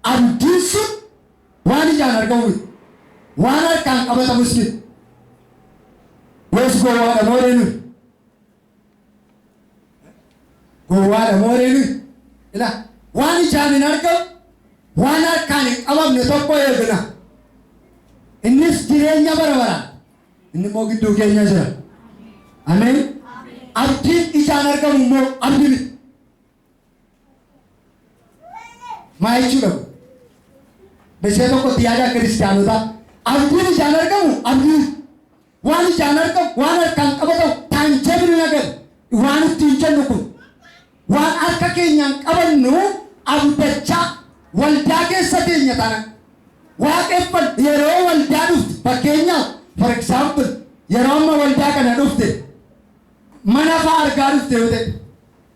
Abdiin sun waan ijaan argamu miti. Waan harkaan qabatamus miti. Yoos gowwaadha moo ree nuyi? Gowwaadha moo ree nuyi? Ilaa, waan ijaan hin argamu, waan harkaan hin qabamne tokko eegna. Innis jireenya bara baraa. Inni immoo gidduu keenya jira. Ameen. Abdiin ijaan argamu immoo abdi miti. Maal jechuudha kun? Meeshaa tokkotti yaada akka kiristaanotaa abdiin ijaan argamu abdiin waan ijaan argamu waan harkaan qabatamu taanjabili nagar waan ittiin jennu kun waan harka keenyaan qabannu abdachaa waldaa keessa teenya tana waaqeffan yeroo waldaa dhufte fakkeenyaaf for example yeroo amma waldaa kana dhufte mana fa'aa argaa dhufte yoo ta'e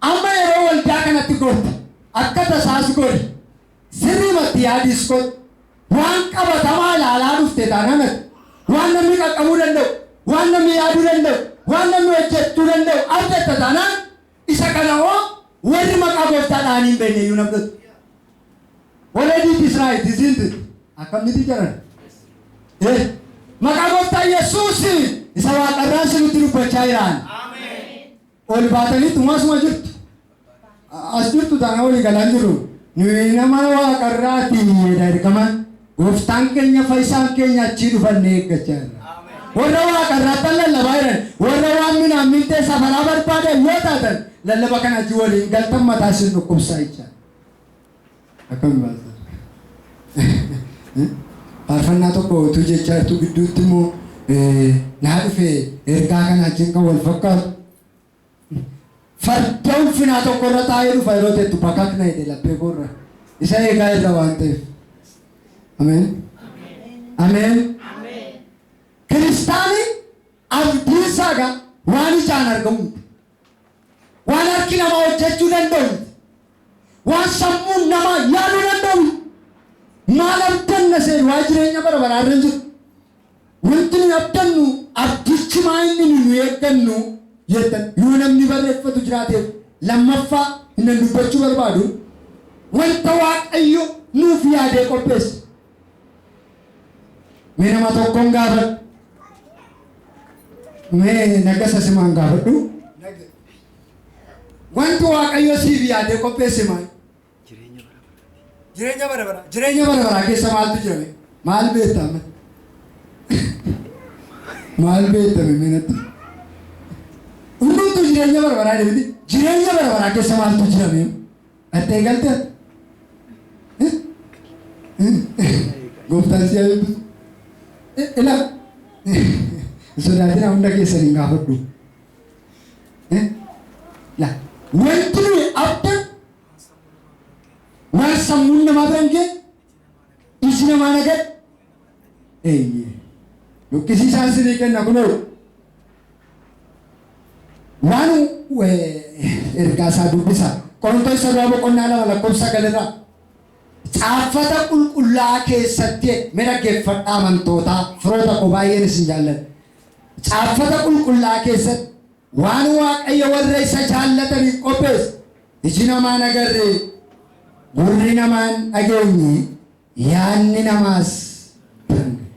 Amma yeroo waldaa kanatti gortu akka tasaas gori. Sirriimatti yaadiis godhi. Waan qabatamaa ilaalaa dhufte taanaan ati waan namni qaqqabuu danda'u, waan namni yaaduu danda'u, waan namni hojjechuu danda'u argatta taanaan isa kana hoo warri maqaa gooftaa dha'anii hin beekne iyyuu hin abdatu. Already it is right, isn't it? Akkamitti jiran? Eh, Maqaa gooftaa Yesuusiin isa waaqarraa isinitti dubbachaa jiraan. Ol baatanii tumaasuma jirtu. As jirtu taana walii galaan jiru. Nuyi nama waaqarraa diinyeedha ergaman. Gooftaan keenya fayyisaan keenya achii dhufannee eeggachaa jirra. Warra waaqarraattan lallabaa jiran, warra waan minaan mintee safaraa barbaadan yoo taatan lallaba kana achii waliin galtan mataa isin dhukkubsaa jecha. Akkam baaltan? Faarfannaa tokko utuu jechaa jirtu gidduutti immoo naa dhufe ergaa kana wajjin kan wal fakkaatu. Farda ulfinaa tokko irra taa'ee dhufa yeroo jettu bakakna jedhe laphee koorra. Isa eegaa irra waan ta'eef. Ameen. Ameen. Kiristaanii abdiin isaa egaa waan ijaan argamu miti. Waan harki namaa hojjechuu danda'u miti. Waan sammuun namaa yaaduu danda'u miti. Maal abdanna seenu waa'ee jireenya bara baraa irra hin jiru. Wanti nuyi abdannu abdichi maa inni nu nu eeggannu jettan yoo namni barreeffatu jiraateef lammaffaa innan dubbachuu barbaadu wanta Waaqayyo nuuf yaadee qopheesse. Mee nama tokkoon gaafadhu. Mee nagasa simaan gaafadhu. Wanti Waaqayyo siif yaadee qopheesse maal? Jireenya bara baraa. Jireenya bara baraa keessa maaltu jira? mee? Maal beektame? Maal beektame mee natti? Hundumtuu jireenya bara baraa jedhamti. Jireenya bara baraa keessa maaltu jira mee? Dhaxxee galte? Gooftaan si'a eebbisu. Ila sodaatina hunda keessan hin gaafadhu. La wanti nuyi abda waan sammuun namaa biraan ga'e iji namaa nagadhu. Eeyyee, luqqisii isaa isinii kenna kunoo. Waan ergaa isaa dubbisa. Qorontoos Sabaa boqonnaa lama lakkoofsa sagal irraa caaffata qulqullaa'aa keessatti mee dhaggeeffadhaa amantootaa firoota koo baay'een isin jaalladha. Caaffata qulqullaa'aa keessatti waan waaqayyo warra isa jaallataniif qopheesse iji namaa hin agarre gurri namaa hin dhageenye Yaadni namaas tan gahe.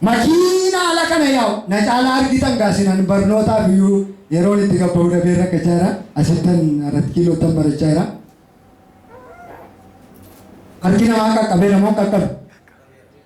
Makiina ala kana yaa'u na caalaa argitan gaa sinan barnootaaf iyyuu yeroon itti gabba'u dhabee rakkachaa jira. Asittan arat kiiloottan barachaa jira. Harki namaa qaqqabeera moo hin qaqqabe?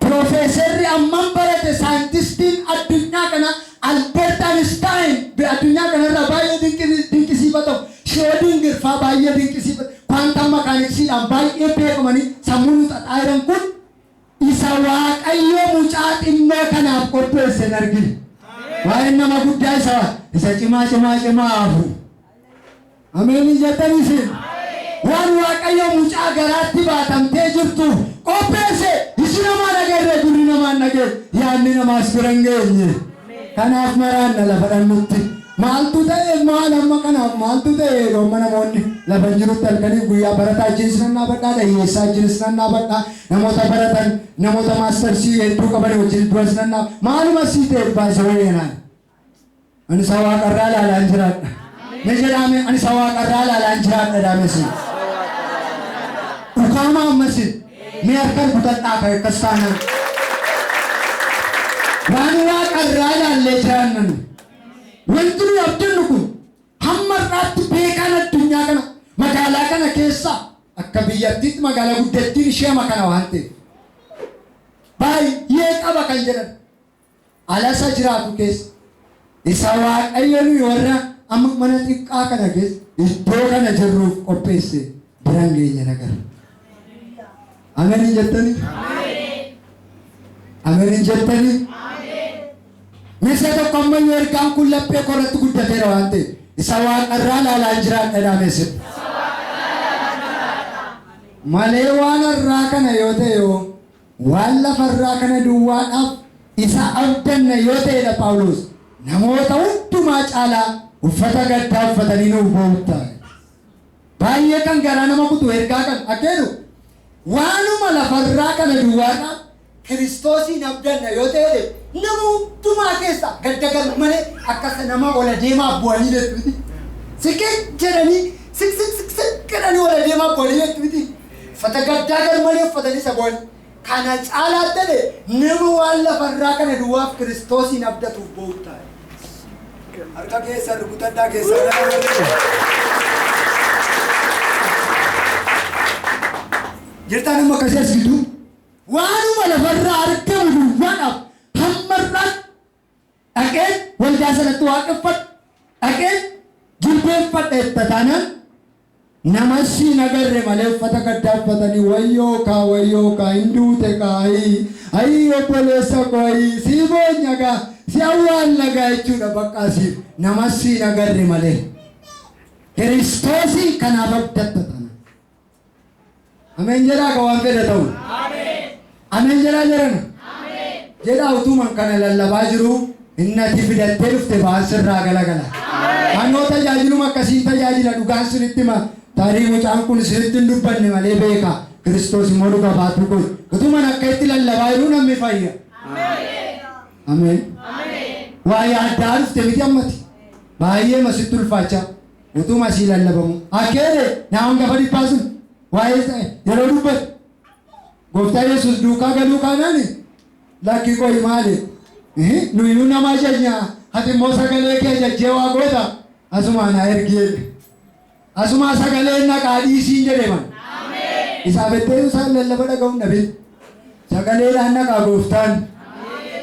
Piroofeesarri amman barate saayintistiin addunyaa kana Albert Einstein be addunyaa kana irraa baay'ee dinqisi dinqisiifatamu, Schrödinger faa baay'ee dinqisiifat quantum mechanics dhaan baay'ee beekamanii sammuu nu xaxaayiran kun isa Waaqayyo mucaa xinnoo kanaaf qopheesse hin argine. Waa'een nama guddaa isa isa cimaa cimaa cimaa haa hafu. Ameen hin jettan isin? Waan Waaqayyo mucaa garaatti baatamtee jirtuuf qopheesse iji namaa hin agarre, gurri namaa hin dhageenye, yaadni namaas bira hin geenye. Kanaaf maraanna lafa dhannutti. Maaltu ta'e maal amma kanaaf maaltu ta'e jedhu amma namoonni lafa hin jirutti halkaniif guyyaa barataa wajjinis nan dhaabadhaa, dhayyeessaa wajjinis nan dhaabadhaa, namoota baratan, namoota maastarsii hedduu qaban wajjin duras nan dhaabadha. Maaluma sii ta'eef baay'isa wayyanaan. Ani isa waaqarraa ilaalaan jiraadha. Mee jedhaame ani isa waaqarraa ilaalaan jiraadha daamesi. Dhukaama ammasi mee harka rukutadhaa kan akkas taanaan. Waan waaqarraa ilaallee jiraannan. Wanti nuyi abdannu kun hamma irraatti beekaan addunyaa kana magaalaa kana keessa akka biyyattiitti magaalaa guddattiin ishee ama kana waan ta'eef. Baay'ee qaba kan jedhan. ala isa jiraatu keessa isa Waaqayyo nuyi warra amma mana xiqqaa kana keessa iddoo kana jirruuf qopheesse biran geenye nagarra. Ameen hin jettanii? Ameen hin jettanii? Meeshaa tokko ammayyuu ergaan kun laphee koo irratti guddateera waan ta'eef isa waaqarraa ilaalaan jiraadha jedhamee sirna. Malee waan har'aa kana yoo ta'e yoo Waan lafa irraa kana duwwaadhaaf isa abdanna yoo ta'e dha Phaawulos namoota hundumaa caalaa uffata gaddaa uffatanii nuuf boo'uutta. Baay'ee kan garaa nama kutu ergaa kan akka jedhu waanuma lafa irraa kana duwwaadhaaf Kiristoosiin abdanna yoo ta'e dha nama hundumaa keessa gadda gar malee akka isa nama ol adeemaaf bu'anii beektu miti. Siqiq jedhanii siq siq siq siq jedhanii ol adeemaaf bu'anii beektu miti. Uffata gaddaa garmalee uffatanii isa boo'an. Kana caalaattan nama waan lafa irraa kana duwwaaf Kiristoosiin abdatuuf boo'u ta'a. Harka keessan rukutadhaa keessan gara warri. Jirtaan amma akkasii as gidduu waanuma lafarraa argamu duwwaadhaaf hamma irraa Dhaqeen waldaa sanatti waaqeffadha, dhaqeen jilbeeffadha jetta taanaan nama si hin agarre malee uffata gaddaa uffatanii wayyoo kaa wayyoo kaa hin duute kaa ayii ayii obboleessa koo ayii sii boonya gaa si awwaalla gaa jechuudha baqqaa siif nama si hin agarre malee. Kiristoosiin kanaaf abdatta taanaan. Ameen jedhaa ka waan fedha ta'u. Ameen jedhaa jedhan. Jedhaa utuman kana lallabaa jiruu innati fidattee dhufte ba'aan sirraa galagala. Anoo tajaajiluma akkasiin tajaajila dhugaan sinitti hima. Tarii mucaan kun sinitti hin dubbanne malee beeka. Kiristoos immoo dhuga baatuu kun. Utuman akka itti lallabaa jiruu namni fayya. Ameen. Waa yaaddaa dhufte miti ammati. Baay'ee masitti ulfaachaa. Utuma ishii lallabamuu. Akkeele na angafa dhibbaa sun waa'ee isa yeroo dubbatu gooftaa Yesuus duukaa galuu kaanaan lakki qoyi maali nuyinuu nama ajajnaa ati immoo sagalee kee ajajjee waa goota asumaa na ergi jedhe. Asumaa sagalee naqaa dhiisiin jedhe man. Isaa bettee isaa lallaba dhaga'uun dhabin. Sagaleedhaan naqaa gooftaan.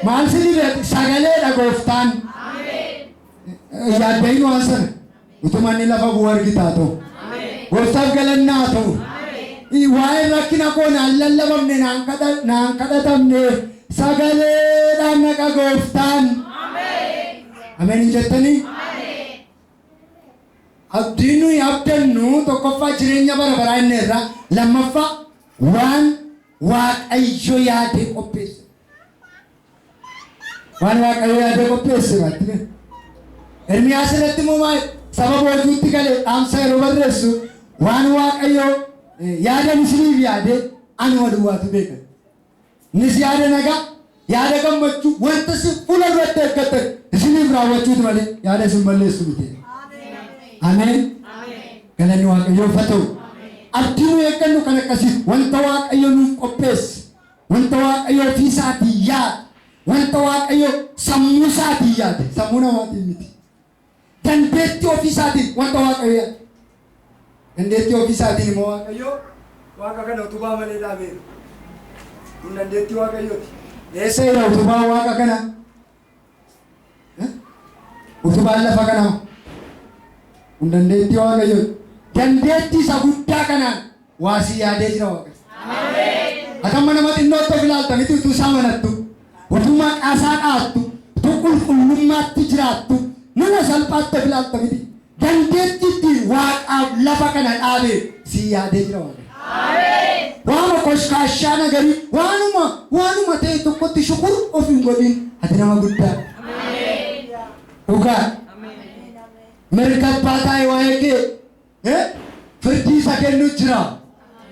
Maal si dhibe sagaleedha gooftaan. Yaadda'in waan sana utuma inni lafa bu'u argita haa ta'u. Gooftaaf galanna haa ta'u. Waa'een rakkina koo naan lallabamne naan kadha- naan kadhatamne sagaleedhaan naqa gooftaan. Ameen hin jettanii? Abdiin nuyi abdannu tokkoffaa jireenya bara baraa inni irraa lammaffaa waan waaqayyo yaadee qopheesse. Waan Waaqayyo yaadee qopheesse maatti bee. Ermiyaas irratti immoo maal saba boojuutti galee dhaamsa yeroo barreessu waan Waaqayyo eh, yaada misiriif yaadee anuma duwwaatu beeka. Innis yaada nagaa, yaada gammachuu, wanta si fuula duratti eeggatan isiniif raawwachuutu malee yaada isin balleessu miti. Ameen. Galanni Waaqayyoof haa ta'u. Abdii nu eeggannu kan akkasii wanta Waaqayyo nuuf qopheesse Wanta Waaqayyo ofii isaatii yaade, wanta Waaqayyo sammuu isaatii yaade, sammuu namaatiin miti. Dandeettii ofii isaatiin wanta Waaqayyo yaade. Dandeettii ofii isaatiin immoo Waaqayyo Waaqayyo waaqa kana utubaa malee dhaabeera. Kun dandeettii Waaqayyooti. Eessa jira utubaa waaqa kana? Utubaan lafa kanaa kun dandeettii Waaqayyoo dandeettii isa guddaa kanaan waa si yaadee jira Waaqayyo. Akka mana nama xinnootti of ilaalta miti utuu isaa manattu, utuu maqaa isaa dhaattu, utuu qulqullummaatti jiraattu mana salphaatti of ilaalta miti. Dandeetti ittiin waaqaaf lafa kana dhaabe sii yaadee jira waaqayyo. Waanuma koshkaashaa nagarii waanuma waanuma ta'e tokkotti shukur of hin godhin ati nama guddaa. Dhugaa. Mirga abbaa taa'e waa'ee kee eh, firdii isa kennu jira.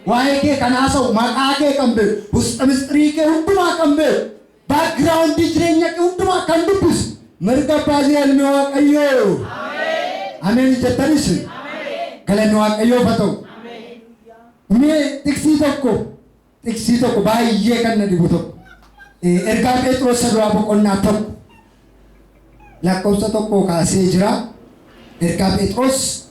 Waa'ee kee kan haasa'u maqaa kee kan beeku, husxa mistirii kee hundumaa kan beeku. Background jireenya kee hundumaa akka hin dubbisu mirga abbaa jira ilmi waaqayyoo. Ameen hin jettanis galanni waaqayyoof haa ta'u. Mee xiqsii tokko xiqsii tokko baay'ee kan na dhibu tokko Eh, ergaa Pheexroos isa duraa boqonnaa tokko lakkoofsa tokkoo kaasee jira. Ergaa Phexros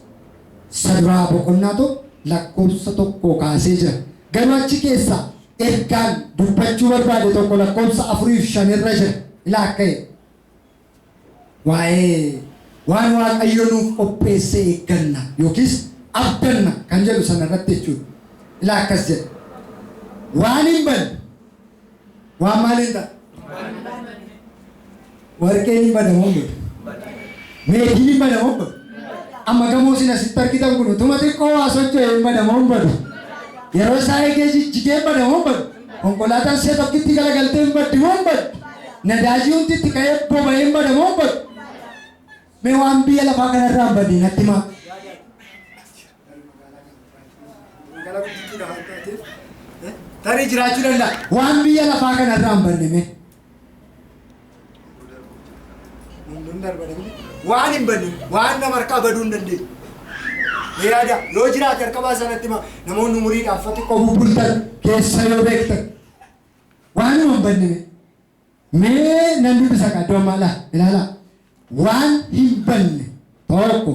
isa duraa boqonnaa tokko lakkoofsa tokkoo kaasee jira. Garuu achi keessa ergaan dubbachuu barbaade tokko lakkoofsa afurii fi shan irra jira. Ilaa akka jedhu. Waa'ee waan Waaqayyo nuuf qopheesse eegganna yookiis abdanna kan jedhu sana irratti jechuudha. Ilaa akkas jedha. Waan hin banne Waan maaliin ta'a? Warqeen hin bada moo hin badu? Meetiin hin bada moo hin badu? Amma gamoo isin asitti argitan kun utuma xiqqoo waa socho'e hin bada moo hin badu? Yeroo isaa eegee jijjigee hin bada moo hin badu? Konkolaataan si'a tokkitti galagaltee hin baddi moo hin badu? Nadaajii hundi itti ka'ee boba'ee hin bada moo hin badu? Mee waan biyya lafaa kanarraa hin badne natti himaa. Magaalaa guddittii lafa taatee tarii jiraachuu danda'a. Waan biyya lafaa kana irraa hin banne mee. Hundun darbadha miti. Waan hin banne waan nama harkaa baduu hin dandeenye. Mee yaada yoo jiraate harka baasanatti hima namoonni umuriidhaan fa xiqqoo bubbultan keessa yoo beektan. Waan hin banne mee. Mee nan dubbisa qaddoo maala ilaalaa. Waan hin banne tokko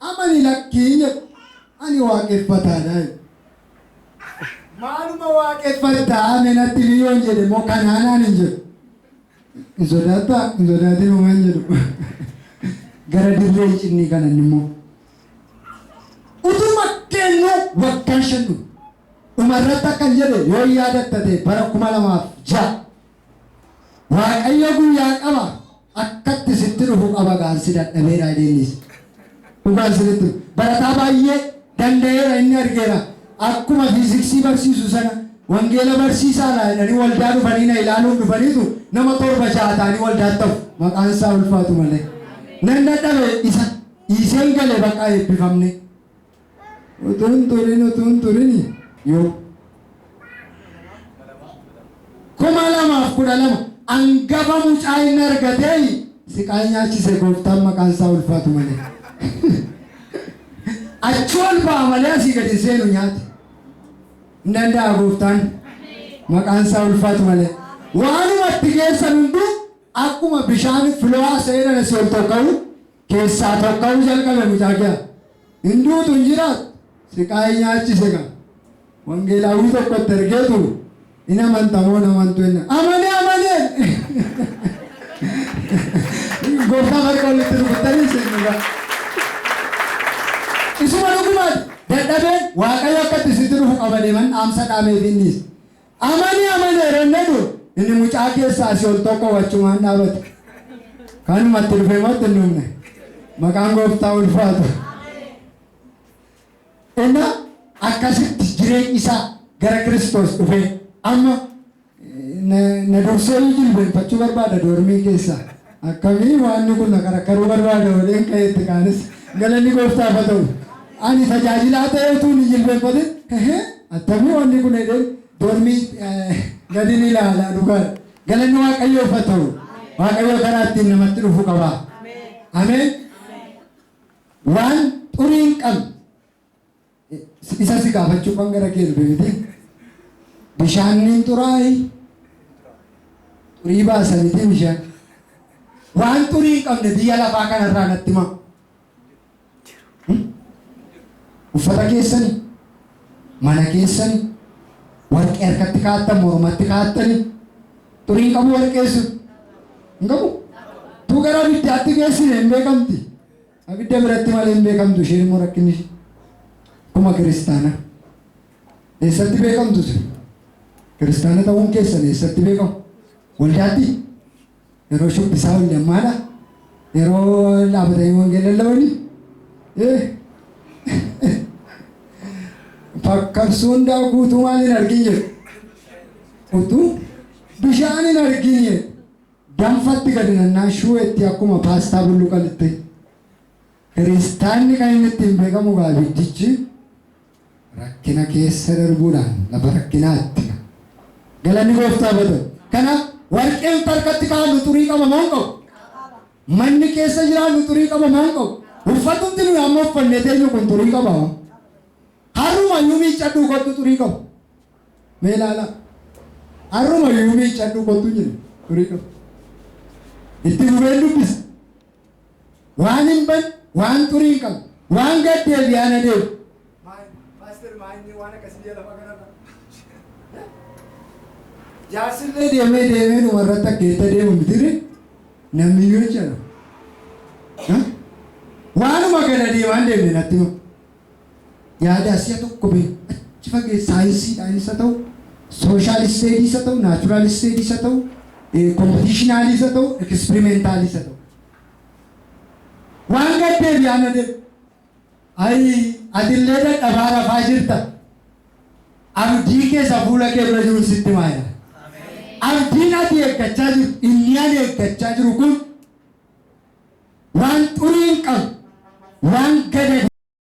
Amani lakki hin jedhu ani waaqeffataadha jedhe. Maaluma waaqeffatta me natti himi yoon jedhe immoo kanaa naan hin jedhu. Hin sodaatta hin sodaatin homa hin jedhu. Gara dirree hin cinnii kana inni immoo. Utuma kennu waggaan shan dhume. Dhumarratti akkan jedhe yoo yaadatta ta'e bara kuma lamaaf ja'a. Waaqayyo guyyaan qaba akkatti sitti dhufu qaba gaan si dadhabeera jedheenis. Dhugaan sirriitti barataa baay'ee danda'eera inni argeera akkuma fiiziksii barsiisu sana wangeela barsiisaa laa jedhanii waldaa dhufanii na ilaaluun dhufaniitu nama torba ja'a ta'anii waldaa ta'u maqaan isaa ulfaatu malee. Nan dadhabe isa dhiiseen gale baqaa eebbifamne. Utuun turin utuun turini yoo. 2012 angafa mucaa inni argatee siqaa nyaachise gooftaan maqaan isaa ulfaatu malee. Achi ol ba'a malee asii gadi seenu nyaate. Hin danda'a gooftaan maqaan isaa ulfaatu malee. Waanuma itti keessan hunduu akkuma bishaan filoo seeran asii ol tokka'u kessaa tokkau jalqabe mucaa kiyaa hin duutu hin jiraattu siqaayi nyaachise kaa wangeelaawwii tokko itti ergeetu in amanta moo hin amantu jenna amane amane gooftaa marqa walitti rukuttanii seenuudha isuma dhugumaati dadhabeen waaqayyo akka itti sitti dhufu qaba deeman dhaamsa dhaameef innis Amani amana eranne du, inni mucaa keessaa asi ol tokko wachumaan dhaabate. Kanuma itti dhufe moo itti hin dhumne? Maqaan gooftaa ulfaatu. Inna akkasitti jireenyi isaa gara Kiristoos dhufee amma na dursee jilbeenfachuu barbaada doormii keessaa. Akkamii waanni kun na karakkaruu barbaada jedheen ka'ee itti kaanis. Galanni Gooftaaf haa ta'u. Ani tajaajilaa ta'ee utuun hin jilbeenfatin hehee attamii waanni kun jedheen doormii gadin ilaala dhugaadha. Galanni Waaqayyoof haa ta'u. Waaqayyo karaa ittiin namatti dhufu qaba. Ameen! Waan xurii hin qabne. Isa si gaafachuu kan gara kee dhufe miti. Bishaanniin xuraa'e xurii baasa miti bishaan. Waan xurii hin qabne biyya lafaa kanarraa natti himaa. Uffata keessani, mana keessani, warqee harkatti kaa'attan, mormatti kaa'attani. Xurii hin qabu warqee sun. Hin qabu. Tuu gara abiddaatti geessine hin beekamti. Abidda biratti malee hin beekamtu isheen immoo rakkinni ishee akkuma kiristaana eessatti beekamtu isin kiristaana ta'uun keessan eessatti beekamu waldaatti yeroo shubbisaa walli ammaadha yeroo dhaabatanii wangeela lallabanii eh fakkarsuun daakuu guutuu maal hin argin jedhu utuu bishaan hin argin jedhu Danfatti gadi nannaa shuu etti akkuma paastaa bulluqa lixxe. Kiristaanni kan inni ittiin beekamu egaa abiddichi rakkina keessa darbuudhaan lafa rakkinaatti ga. Galanni gooftaa bata. Kanaaf warqeen farkatti kaa'annu xurii qaba moo hin qabu? Manni keessa jiraannu xurii qaba moo hin qabu? Uffatumti nuyi amma uffannee teenyu kun xurii qaba moo? Harruma iyyuu miiccadhuu kottu xurii qabu. Mee ilaalaa. Har'uma iyyuu miiccadhu kottu jedhe firii dhufe. Itti fufeen dubbisa. Waan hin ban, waan xurii hin qabu, waan gad deebi'aa na deebi. Paaster maanyee waan akkasii biyya lafa kanarra. Jaarsillee deemee deemee dhuma irratti akkeetta deemu mitire namni iyyuu jechaadha. Waanuma gada deemaan deemne natti hima. yaadaa si'a tokko bahe achi fagees saayinsiidhaanis haa ta'u, sooshaal isteediis haa ta'u, naachuraal isteediis haa ta'u, kompitiishinaaliis haa ta'u, ekispirimeentaaliis haa ta'u. Waan gad deebi'aa na deebi. Ayi atillee dadhabaa rafaa jirta. Abdii kee isa fuula kee dura jiru sitti himaa jira. Abdiin ati eeggachaa jirtu, inni ani eeggachaa jiru kun waan xurii hin qabne, waan gadi